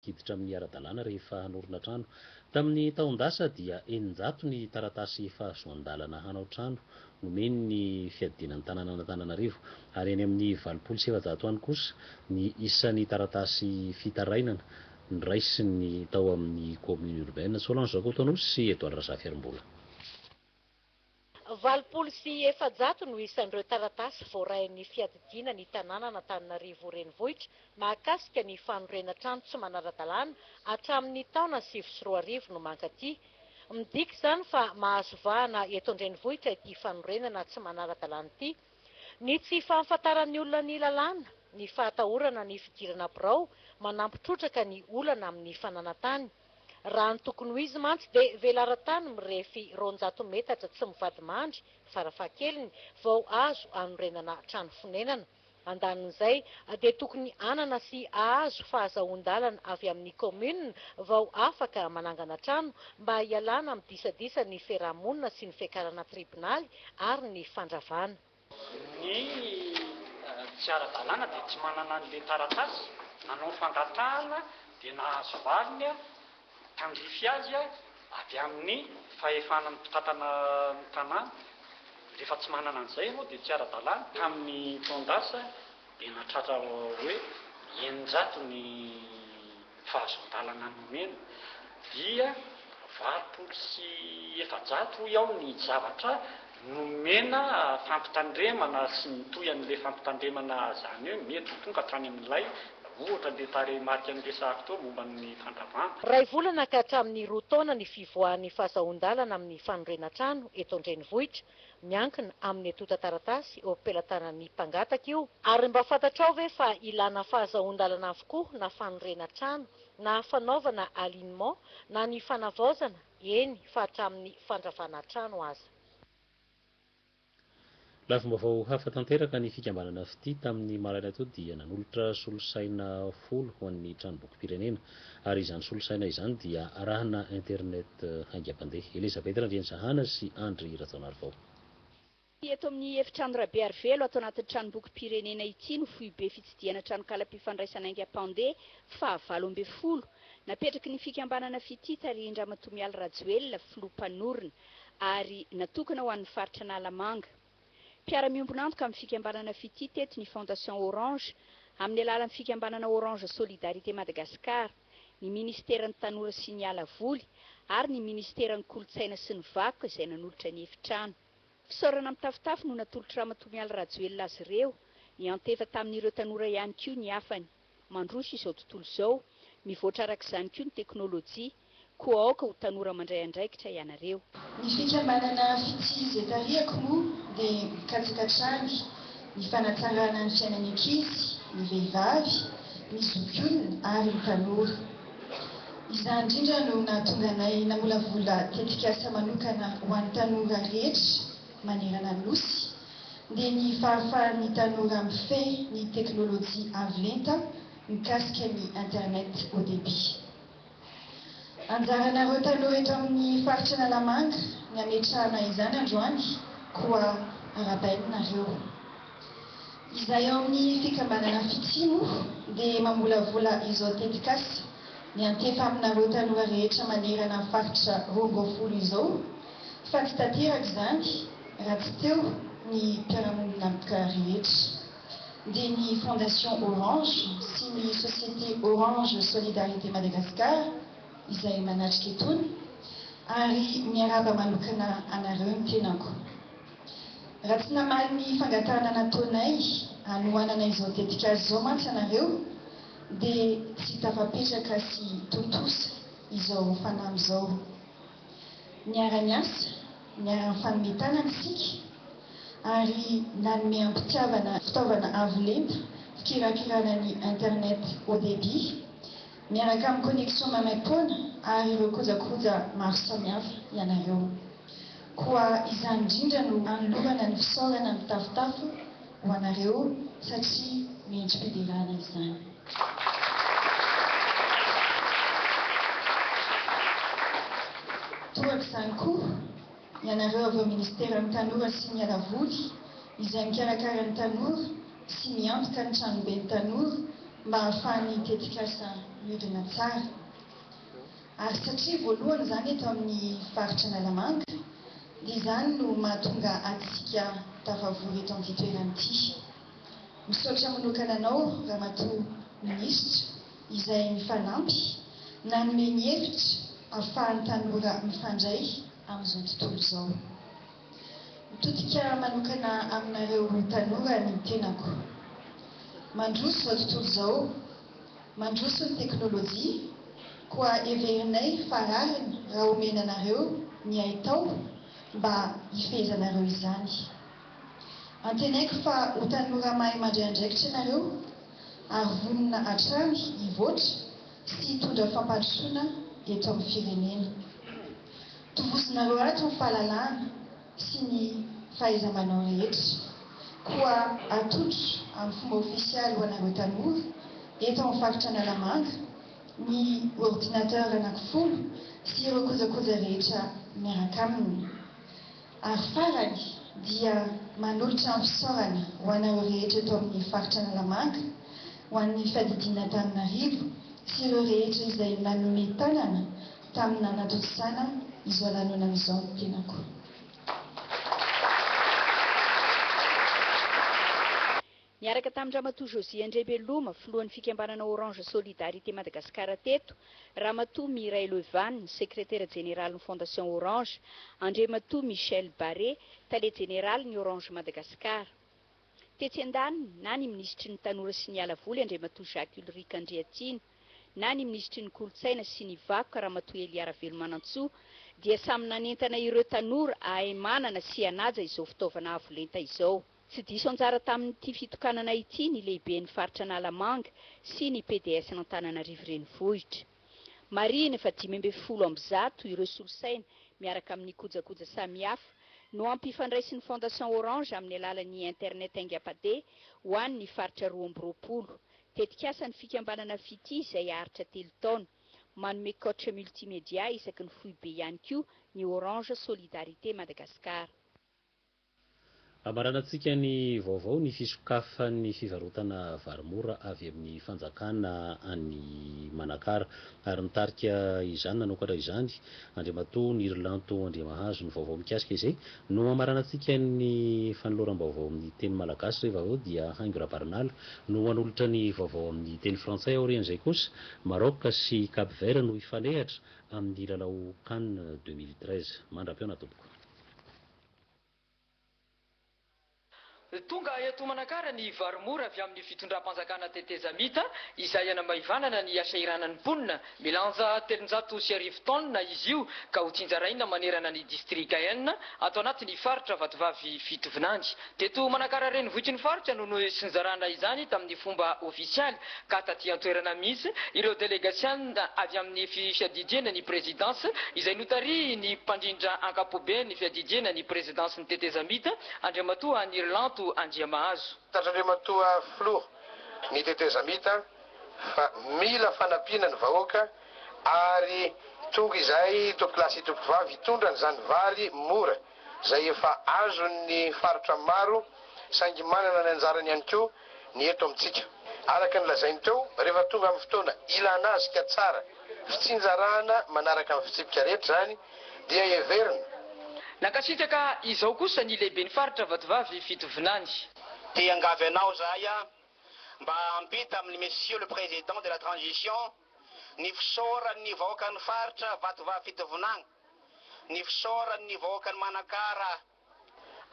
hiditra amin'ny ara-dalàna rehefa hanorina trano. Tamin'ny taon-dasa dia eninjato ny taratasy fahazoan-dalana hanao trano nomeny ny fiadiana ny tanànan'Antananarivo ary eny amin'ny valopolo sy efajato any kosa ny isan'ny taratasy fitarainana noraisiny tao amin'ny Commune Urbaine. Solange Rakotoanosy sy Edouard Razafiarmbola. Valopolo sy efajato no isan'ireo taratasy voarain'ny fiadidiana ny tanànan'Antananarivo Renivohitra mahakasika ny fanorenana trano tsy manara-dalàna hatramin'ny taona sivy sy roa arivo no mankaty. Midika izany fa mahazo vahana eto an-drenivohitra ity fanorenana tsy manara-dalàna ity. Ny tsy fahafantaran'ny olona ny lalàna, ny fahatahorana ny fidirana birao manampy trotraka ny olana amin'ny fananan-tany. Raha ny tokony ho izy mantsy dia velaran-tany mirefy roanjato metatra tsy mivadimandry farafahakeliny vao azo anorenana trano fonenana. Andanin'izay dia tokony hanana sy hahazo fahazahoan-dalana avy amin'ny kaominina vao afaka manangana trano mba hialana amin'ny disadisa ny fiaraha-monina sy ny fiakarana tribonaly ary ny fandravana. Ny tsy ara-dalàna dia tsy manana an'ilay taratasy nanao fangatahana dia nahazo valiny tandrify azy avy amin'ny fahefana ny mpitantana ny tanàna. Rehefa tsy manana an'izay ianao dia tsy ara-dalàna. Tamin'ny taon-dasa Dia nahatratra hoe eninjato ny fahazoan-dalana nomena, dia valopolo sy efajato hoy aho ny zavatra nomena fampitandremana sy ny tohan'ilay fampitandremana zany hoe mety ho tonga hatrany amin'ilay ohatra an'ilay tarehimarika niresahako teo momba ny fandravana. Iray volana ka hatramin'ny roa taona ny fivoahan'ny fahazahoan-dalana amin'ny fanorenan-trano eto an-drenivohitra miankina amin'ny antontan-taratasy eo am-pelatanan'ny mpangataka io. Ary mba fantatrao ve fa ilana fahazahoan-dalana avokoa na fanorena trano, na fanaovana alignement, na ny fanavaozana, eny fa hatramin'ny fandravana trano aza. Lafim-baovao hafa tanteraka, ny fikambanana Fitia tamin'ny maraina toa dia nanolotra solosaina folo ho an'ny Tranombokim-pirenena, ary izany solosaina izany dia arahana internet. Haingam-pandeha, Elizabeth Randriantsahana sy Andry Rajaonarivao. Tsy eto amin'ny efitrano Rabearivelo ato anatin'ny tranombokim-pirenena ity no foibe fitsidihana tranonkalam-pifandraisana haingam-pandeha fahavalo ambin'ny folo napetraky ny fikambanana Fitia tarihin-dRamatoa Mialy Rajoelina, filoha mpanorina, ary natokana ho an'ny faritra Analamanga. Mpiara-miombon'antoka amin'ny fikambanana Fitia teto ny Fondation Orange amin'ny alalan'ny fikambanana Orange Solidarité Madagascar. ny Ministeran'ny Tanora sy ny Ala Voly ary ny Ministeran'ny Kolontsaina sy ny Vakoka izay nanolotra ny efitrano. Fisaorana mitafotafo no natolotr'i Ramatoa Mialy Rajoelina azy ireo, niantefa tamin'ireo tanora ihany koa ny hafany. Mandroso izao tontolo izao, mivoatra araka izany koa ny teknolojia, koa aoka ho tanora mandray andraikitra ianareo. Ny fikambanana Fitia izay tarihako moa dia mikatsaka hatrany ny fanatsarana ny fiainan'ny ankizy, ny vehivavy, ny zokiolona ary ny tanora. Izany indrindra no nahatonga anay namolavola tetikasa manokana ho an'ny tanora rehetra manerana ny Nosy, dia ny fahafahan'ny tanora mifehy ny teknolojia avo lenta mikasika ny internet haut débit. Anjaranareo tanora eto amin'ny faritr' Analamanga ny hametrahana izany androany koa arabaina nareo. Izay ao amin'ny fikambanana Fitia moa dia mamolavola izao tetikasa miantefa aminareo tanora rehetra manerana faritra roa ambin'ny folo izao fa tsy tanteraka izany raha tsy teo ny mpiara-monina rehetra. dia ny Fondation Orange sy ny Société Orange Solidarité Madagascar izay manatrika itony ary miarahaba manokana anareo ny tenako. Raha tsy namaly ny fangatahana nataonay hanohanana izao tetik'asa izao mantsy ianareo dia tsy tafapetraka sy tontosa izao fanamby izao. Niara-niasa, niara-nifanome tanana isika ary nanome am-pitiavana fitaovana avo lenta fikirakirana ny Internet haut débit, miaraka amin'ny connexion maimaim-poana ary ireo kojakoja maro samihafa ianareo. Koa izany indrindra no anolorana ny fisaorana mitafotafo. ho anareo satria mendri-piderana izany. Tohaka izany koa ianareo avy ao Ministeran'ny Tanora sy ny Alavoly izay mikarakara ny tanora sy miantoka ny Tranoben'ny Tanora mba hahafahan'ny tetikasa miodina tsara. Ary satria voalohany izany eto amin'ny faritra Analamanga dia izany no mahatonga antsika tafavory eto amin'ity toerana ity. Misaotra manokana anao Ramatoa Minisitra izay mifanampy nanome ny hevitra ahafahan'ny tanora mifandray amin'izao tontolo izao. Mitodika manokana aminareo tanora ny tenako. Mandroso izao tontolo izao. mandroso ny teknolojia koa heverinay fa rariny raha omena anareo ny haitao mba hifehezanareo izany. Antenaiko fa ho tanora mahay mandray andraikitra ianareo ary vonona hatrany hivoatra sy hitondra fampandrosoana eto amin'ny firenena. Tovozinareo ato ny fahalalahana sy ny fahaiza-manao rehetra, koa atolotro amin'ny fomba ofisialy ho anareo tanora eto amin'ny faritra Analamanga ny ordinateur anankifolo sy ireo kojakoja rehetra miaraka aminy. Ary farany dia manolotra ny fisaorana ho anareo rehetra eto amin'ny faritra Analamanga, ho an'ny Fiadidian'Antananarivo sy ireo rehetra izay nanome tanana, tamin'ny nanatontosana izao lanonana izao ny tenako. Niaraka tamin-dRamatoa Josie Andriabeloma, filohan'ny fikambanana Orange Solidarité Madagascar teto, Ramatoa Mireille Leuvanne, sekretera jeneralin'ny Fondation Orange, Andriamatoa Michel Barré, tale jeneralin'ny Orange Madagascar. Tetsy andaniny, na ny minisitry ny Tanora sy ny Ala voly Andriamatoa Jacques Ulric Andriatiana, na ny minisitry ny Kolontsaina sy ny Vakoka Ramatoa Elia Ravelomanantsoa dia samy nanentana ireo tanora hahay manana sy hanaja izao fitaovana avo lenta izao. Tsy diso anjara tamin'ity fitokanana ity ny Lehiben'ny Faritra Analamanga sy ny PDS-n'Antananarivo Renivohitra. Marihina fa dimy ambin'ny folo amby zato ireo solosaina miaraka amin'ny kojakoja samihafa no ampifandraisin'ny Fondation Orange amin'ny alalan'ny Internet aingam-padeha ho an'ny Faritra roa amby roapolo Tetikasa ny fikambanana Fitia izay haharitra telo taona. Manome coach multimedia isaky ny foibe ihany koa ny Orange Solidarité Madagascar. Ambaranan-tsika ny vaovao ny fisokafan'ny fivarotana vary mora avy amin'ny fanjakana any Manakara. Ary nitarika izany nanokatra izany Andriamatoa Nirilanto Andriamahazo. Ny vaovao mikasika izay No hamaranantsika ny fanoloram-baovao amin'ny teny malagasy rehefa avy eo dia haingo Rabarinala no hanolotra ny vaovao amin'ny teny frantsay. Aorian'izay kosa, Maroc sy Cap Vert no hifanehatra amin'ny lalao Can deux mille treize. Mandra-pihaona tompoko. Tonga eto Manakara ny vary mora avy amin'ny fitondram-panjakana tetezamita izay hanamaivanana ny hasahiranan'ny mponina. Milanja telonjato sy arivo taonina izy io ka ho tsinjaraina manerana ny distrika enina ato anatin'ny faritra Vatovavy Fitovinany. Teto Manakara renivohitry ny faritra no nosinjarana izany tamin'ny fomba ofisialy ka taty an-toerana mihitsy ireo delegasiana avy amin'ny fiadidiana ny prezidansa izay notarihin'ny mpandrindra ankapobe ny fiadidiana ny prezidansin'ny tetezamita Andriamatoa Anirlanto Andriamahazo. Tatr'Andriamatoa Filoha, ny tetezamita fa mila fanampiana ny vahoaka ary tonga izay tompolahy sy tompovavy hitondra an'izany vary mora izay efa azon'ny faritra maro saingy manana ny anjarany ihany koa ny eto amintsika. Araka ny lazainy teo, rehefa tonga amin'ny fotoana ilana azy ka tsara fitsinjarahana manaraka ny fitsipika rehetra izany dia heverina. Nankasitraka izao kosa ny lehiben'ny faritra Vatovavy Fitovinany. Te hiangavy anao zahay a! mba ampita amin'ny Monsieur le Président de la Transition ny fisaoran'ny vahoakan'ny faritra Vatovavy Fitovinagny, ny fisaoran'ny vahoakan'i Manakara,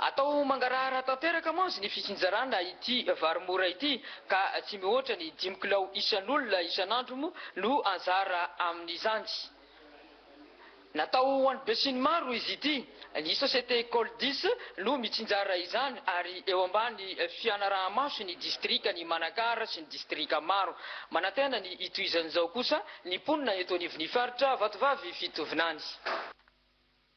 Atao mangarahara tanteraka mantsy ny fitsinjarana ity vary mora ity ka tsy mihoatra ny dimy kilao isan'olona isan'andro moa no anjara amin'izany. Natao ho an'ny besinimaro izy ity. Ny société Coldis no mitsinjara izany ary eo ambany fianaraha-maso ny distrikan'i Manakara sy ny distrika maro. Manantena ny hitohizan'izao kosa ny mponina eto anivon'ny faritra Vatovavy Fitovinany.